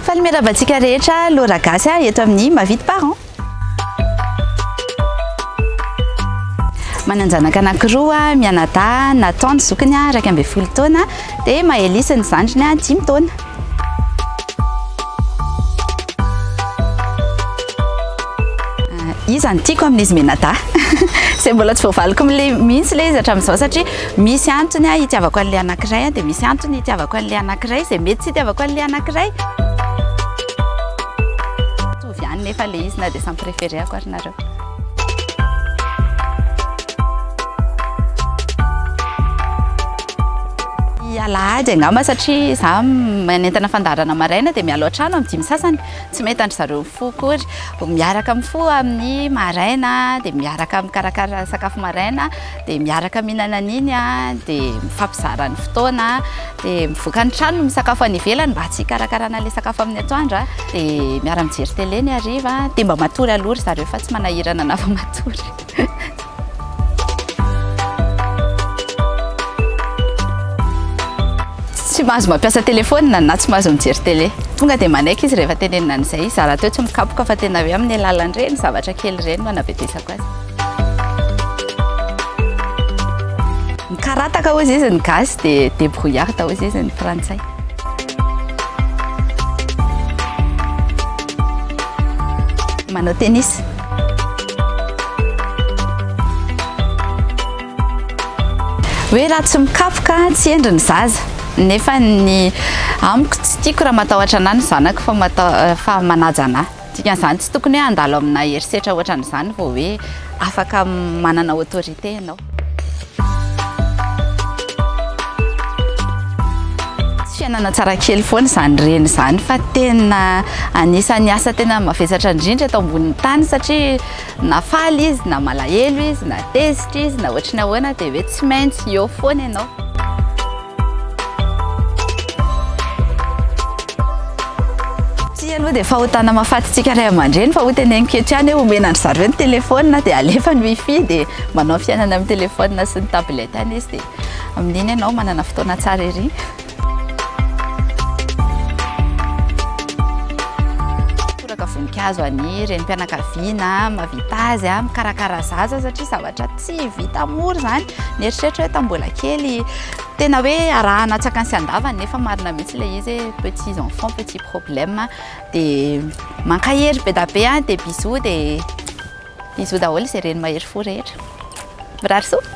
Faly miarahaba antsika rehetra Laura Gasy ah, eto amin'ny Mavidy Parents. Manan-janaka anankiroa, mianadahy, Nathan ny zokiny ah, iraika ambin'ny folo taona, dia Maëlys ny zandriny ah, dimy taona. Iza no tiako amin'izy mianadahy? Izay mbola tsy voavaliko mihitsy ilay izy hatramin'izao satria. Misy antony aho hitiavako an'ilay anankiray, dia misy antony hitiavako an'ilay anankiray, izay mety tsy hitiavako an'ilay anankiray. Mitovy ihany nefa ilay izy na dia samy préféré-ako ary nareo. alahady angamba satria za manentana fandaharana maraina dia mialoha trano amin'ny dimy sasany tsy mety andry zareo fo kory miaraka amin'ny fo amin'ny maraina dia miaraka amin'ny karakara sakafo maraina dia miaraka mihinana an'iny an, dia mifampizara ny fotoana, dia mivoaka ny trano misakafo any ivelany mba tsy hikarakarana ilay sakafo amin'ny atoandro, dia miara mijery télé ny hariva, dia mba matory aloha ry zareo fa tsy manahirana na vao matory. tsy mahazo mampiasa telefaonina na tsy mahazo mijery télé tonga dia manaiky izy rehefa tenenina an'izay izy raha rahateo tsy mikapoka fa tena hoe amin'ny alalan'ireny zavatra kely ireny no anabedesako azy Mikarataka hoy izy ny gasy dia débrouillard hoy izy ny frantsay. Manao tennis. Hoe raha tsy mikapoka tsy endry ny zaza. Nefa ny amiko tsy tiako raha matahotra anà ny zanako fa manaja anà. Dikan'izany tsy tokony hoe handalo amina herisetra ohatran'izany vao hoe afaka manana autorité ianao. Tsy fiainana tsara kely foana izany reny izany fa tena anisan'ny asa tena mavesatra indrindra eto ambonin'ny tany satria na faly izy na malahelo izy na tezitra izy na ohatry ny ahoana dia hoe tsy maintsy eo foana ianao. Tsy aloha dia fahotana mafatsitsika ray aman-dreny fa hoteneniko hatrany hoe omena an-dry zareo ny telefaonina dia alefa ny wifi dia manao fiainana amin'ny telefaonina sy ny tablette any izy dia amin'iny ianao manana fotoana tsara ery. Toraka voninkazo any renim-pianakaviana mahavita azy mikarakara zaza satria zavatra tsy vita mora izany. Nieritreritra hoe tamin'ny mbola kely, tena hoe arahana tsakany sy andavany nefa marina mihitsy ilay izy hoe petits enfants, petits problèmes. Dia mankahery be dia be an, dia bisous, dia bisous daholo izay reny mahery fo rehetra. Mirary soa.